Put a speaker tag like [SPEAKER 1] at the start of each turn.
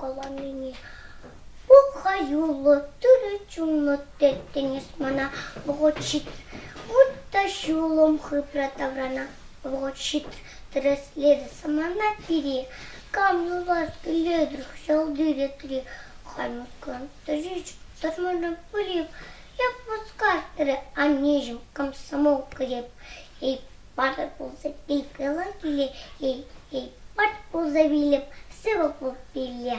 [SPEAKER 1] Каланине пӑх-ха, юлӑ, тӳрӗ чунлӑ теттенес мана вӑхӑт ҫитрӗ, вӑт та ҫулӑм хыпра таврана вӑхӑт ҫитрӗ, тӗрӗслерӗ самана пире, кам юлашки летрех ҫалти ретри Ханюкан тӑриччен тӑрмана пыреп, як пускартрӗ аннеҫӗм комсомол креп, Патӑр пулса пикела киле, пӑт пулса вилӗп сывӑ пулпилле.